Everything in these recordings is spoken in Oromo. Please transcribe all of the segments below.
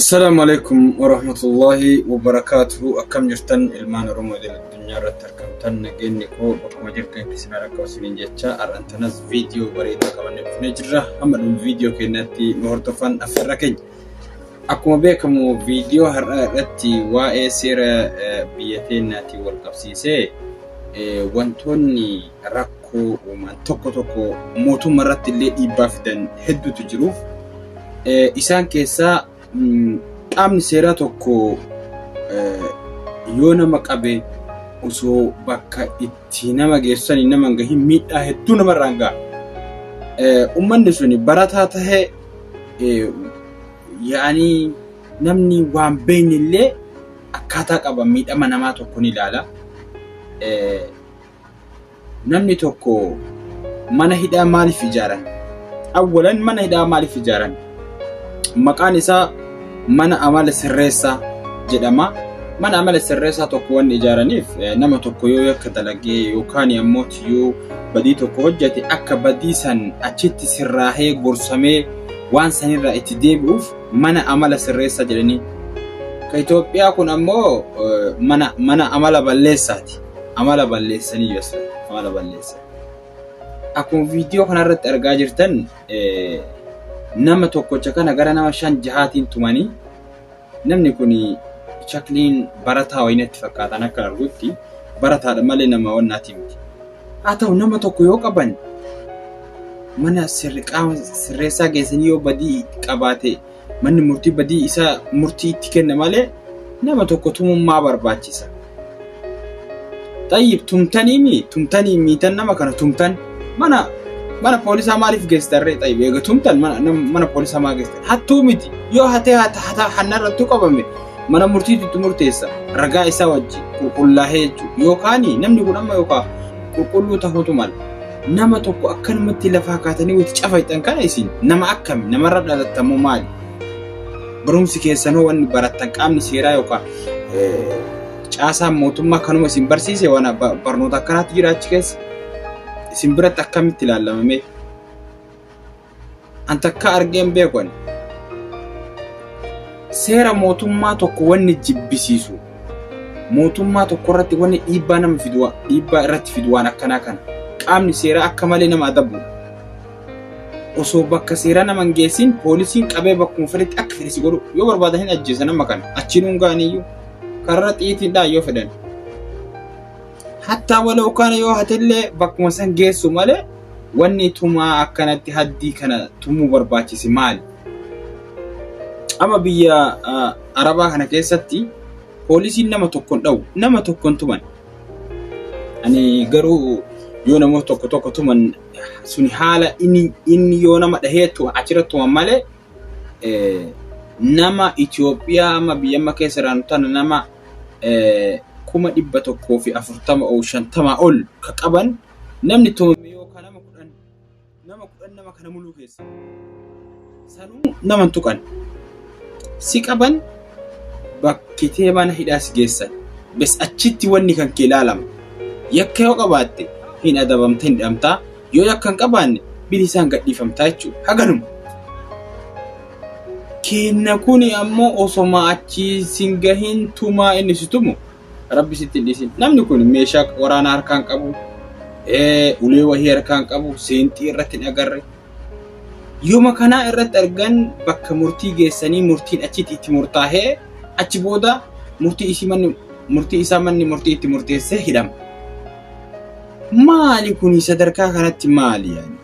Assalamu alaikum warahmatullahi wabarakatuhu akkam jirtan ilmaan oromoo idil addunyaa irratti argamtan nageenyi koo bakkuma jirtan keessan irra akka isiniin jecha har'an tanas viidiyoo bareedaa qabannee dhufnee jirra hamma dhuma viidiyoo keenyatti nu hordofaa affeerra keenya akkuma beekamu viidiyoo har'aa irratti waa'ee seera eh, biyya keenyaatiin wal qabsiisee eh, wantoonni rakkoo uuman tokko tokko mootummaa irratti illee dhiibbaa fidan hedduutu jiru. Isaan keessaa qaamni seeraa tokko yoo nama qabe osoo bakka itti nama geessanii nama hin gahin miidhaa hedduu namarraan ga'a. Uummanni suni barataa tahee yaanii namni waan beekne illee akkaataa qaba miidhama namaa tokko ni ilaala. Namni tokko mana hidhaa maaliif ijaaran? Awwalan mana hidhaa maaliif ijaaran? Maqaan isaa mana amala sirreessaa jedhama. Mana amala sirreessaa tokko waan ijaaraniif nama tokko yoo yakka dalagee yookaan ammoo yoo badii tokko hojjete akka badii san achitti sirraahee gorsamee waan sanirraa itti deebi'uuf mana amala sirreessaa jedhanii. Ka Itoophiyaa kun ammoo mana amala balleessaati. Amala balleessanii yossa amala balleessan. Akkuma viidiyoo kanarratti argaa jirtan nama tokkocha kana gara nama shan jahaatiin tumanii namni kun shakliin barataa wayii natti fakkaatan akka argutti barataadha malee nama wannaati miti. Haa ta'u nama tokko yoo qaban mana sirri qaama sirreessaa geessanii yoo badii qabaate Manni murtii badii isa murtii itti kenna malee nama tokko tumummaa barbaachisa. Xayyib tumtanii mi tumtanii miitan nama kana tumtan mana mana poolisaa maaliif geessitarree xayyib eega tumtan mana, nam- mana poolisaa maa geessitan hattuu miti yoo hatee hata hata hanna irrattuu qabame mana murtiitu itti murteessa ragaa isaa wajji qulqullaahee jechuudha yookaan namni kun amma yookaan qulqulluu tahuutu mala. Nama tokko akkanumatti lafaa kaatanii wati cafayxan kana isin nama akkami namarra dhalattan moo maali? Barumsi keessan hoo wanni barattan qaamni seeraa yookaan eh, caasaan mootummaa kanuma isin barsiise waan ba- barnoota akkanaatti jira achi keessa isin biratti akkamitti ilaallamamee? an takka argee hin beeku ani. Seera mootummaa tokko wanni jibbisiisu mootummaa tokko irratti wanni dhiibbaa nama fidu waan- dhiibbaa irratti fidu waan akkanaa kana qaamni seeraa akka malee nama adabu osoo bakka seeraa nama hin geessin poolisiin qabee bakkuma fedhetti akka fedhe si godhu yoo barbaadan hin ajjeesan amma kana achiin hungaaniyyuu karra xiitiidhaan yoo fedhan Hattaa waloo kana yoo hatellee bakkuma san geessu malee wanni tumaa akkanatti haddii kana tumuu barbaachise maali? Amma biyya Arabaa kana keessatti poolisiin nama tokkon dhawu nama tokkon tuman. Ani garuu yoo namoota tokko tokko tuman suni haala inni inni yoo nama dhaheetu achirratti tuman malee nama Itoophiyaa amma biyya amma keessa jiraannu tana nama kuma dhibba tokkoo fi afurtama oo shantamaa ol ka qaban namni tumame yoo ka nama kudhan nama kudhan nama kana muluu keessa sanuu nama hin tuqan si qaban bakkitee mana hidhaa si geessan bes achitti wanni kan kee ilaalama yakka yoo qabaatte hin adabamte hin dhamtaa yoo yakka hin qabaanne bilisaan gadhiifamtaa jechuudha haganuma keenna kuni ammo osoma achi sin gahin tumaa inni si tumu rabbi sitti hin dhiisin namni kun meeshaa waraana harkaan qabu ulee wahii harkaan qabu seenxii irratti hin agarre yooma kanaa irratti argan bakka murtii geessanii murtiin achitti itti murtaahee achi booda murtii isii manni murtii isaa manni murtii itti murteessee hidhama maali kuni sadarkaa kanatti maali yaani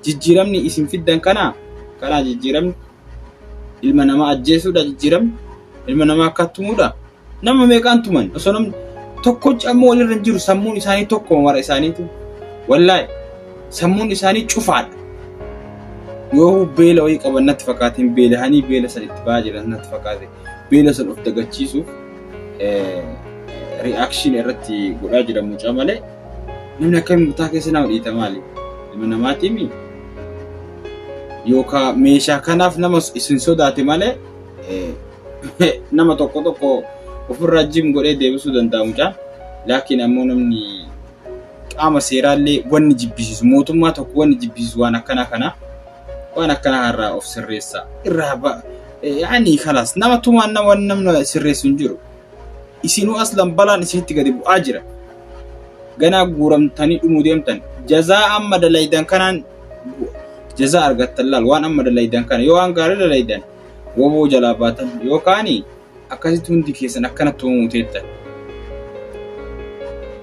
Jijjiiramni isin fiddan kanaa? Kanaa jijjiiramni? Ilma namaa ajjeesuudha jijjiiramni? Ilma namaa akka tumuudha? Nama meeqaan tuman? Osoo namni tokkochi ammoo walirra hin jiru sammuun isaanii tokkuma mara isaaniitu. Wallaahi sammuun isaanii cufaadha. Yoo beela wayii qaban natti fakkaatiin beelahanii beela san itti ba'aa jiran natti fakkaate beela san of dagachiisuuf ri'aakshiin irratti godhaa jira mucaa malee Namni akka murtaa keessa nama dhiita maali? Ilma namaatii mi? Yookaan meeshaa kanaaf nama isin sodaate malee nama tokko tokko ofirraa jim godhee deebisuu danda'a mucaan. Laakiin ammoo namni qaama seeraallee wanni jibbisiisu mootummaa tokko wanni jibbisiisu waan akkanaa kana waan akkanaa irraa of sirreessaa irraa ba'a. Yaani kalaas nama tumaan nama sirreessu hin jiru. Isinuu aslan balaan isinitti gadi bu'aa jira. ganaa guuramtanii dhumuu deemtan jazaa amma dalaydan kanaan jazaa argattan laal waan amma dalaydan kana yoo waan gaarii dalaydan woboo jalaa baatan yookaan akkasitti hundi keessan akkana tuumuu teettan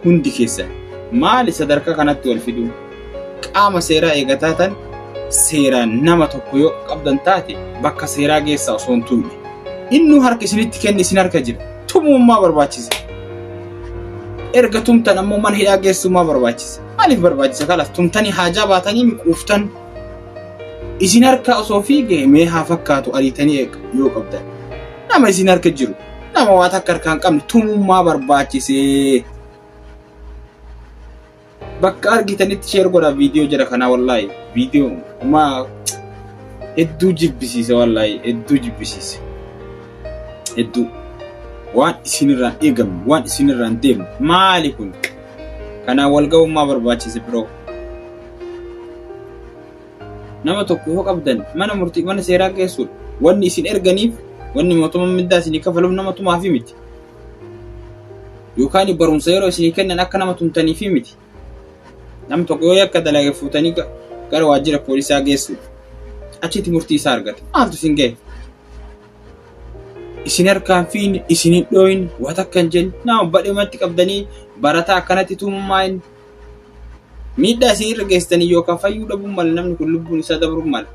hundi keessan maali sadarkaa kanatti wal fiduu Qaama seeraa eegataa tan seeraan nama tokko yoo qabdan taate bakka seeraa geessaa osoo hin tumne. Innuu harka isinitti kenni isin harka jira. Tumummaa barbaachisa. Erga tumtan ammoo mana hidhaa geessummaa barbaachisa. Maaliif barbaachisa kalas tumtanii haajaa baatanii miquuftan. Isin harka osoo fiigee mee haa fakkaatu ariitanii eega yoo qabdan. Nama isin harka jiru. Nama waa takka harkaan qabne tumummaa barbaachisee. Bakka argitanitti sheer godha viidiyoo jira kanaa wallaahi viidiyoo umaa hedduu jibbisiisa wallaahi hedduu jibbisiisa hedduu waan isinirraan eegamu waan isinirraan deemu maali kun kanaa walga'ummaa barbaachise biroo nama tokko yoo qabdan mana murtii mana seeraa geessuudha wanni isin erganiif wanni mootummaan mindaa isinii kafaluuf nama tumaafi miti Yookaan barumsa yeroo isinii kennan akka nama tumtaniifi miti. Namni tokko yoo yakka dalage fuutanii ga- gara waajjira poolisaa geessuudha. Achitti murtii isaa argata. Maaltu isin gahe? Isin harkaan fiin, isin hin dhooyin, waa takka hin jenne. Nama badhumatti qabdanii barataa akkanatti tumummaa hin miidhaa isin irra geessitanii yookaan fayyuu dhabuun mala namni kun lubbuun isaa dabruu mala.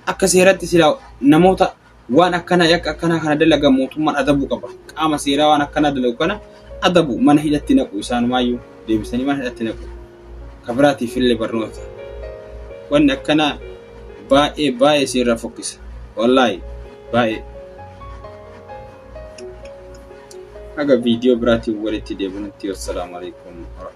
Akka seeratti silaa namoota Waan akkanaa yakka akkanaa kana dalagan mootummaan adabuu qaba. Qaama seeraa waan akkanaa dalagu kana adabu mana hidhatti naqu isaanumaayyuu deebisanii mana hidhatti naqu. Ka biraatiif illee barnoota. Wanni akkanaa baay'ee baay'ee si irraa fokkisa. Wallaahi baay'ee. Haga viidiyoo biraatiin walitti deebinutti wassalaamu alaikum.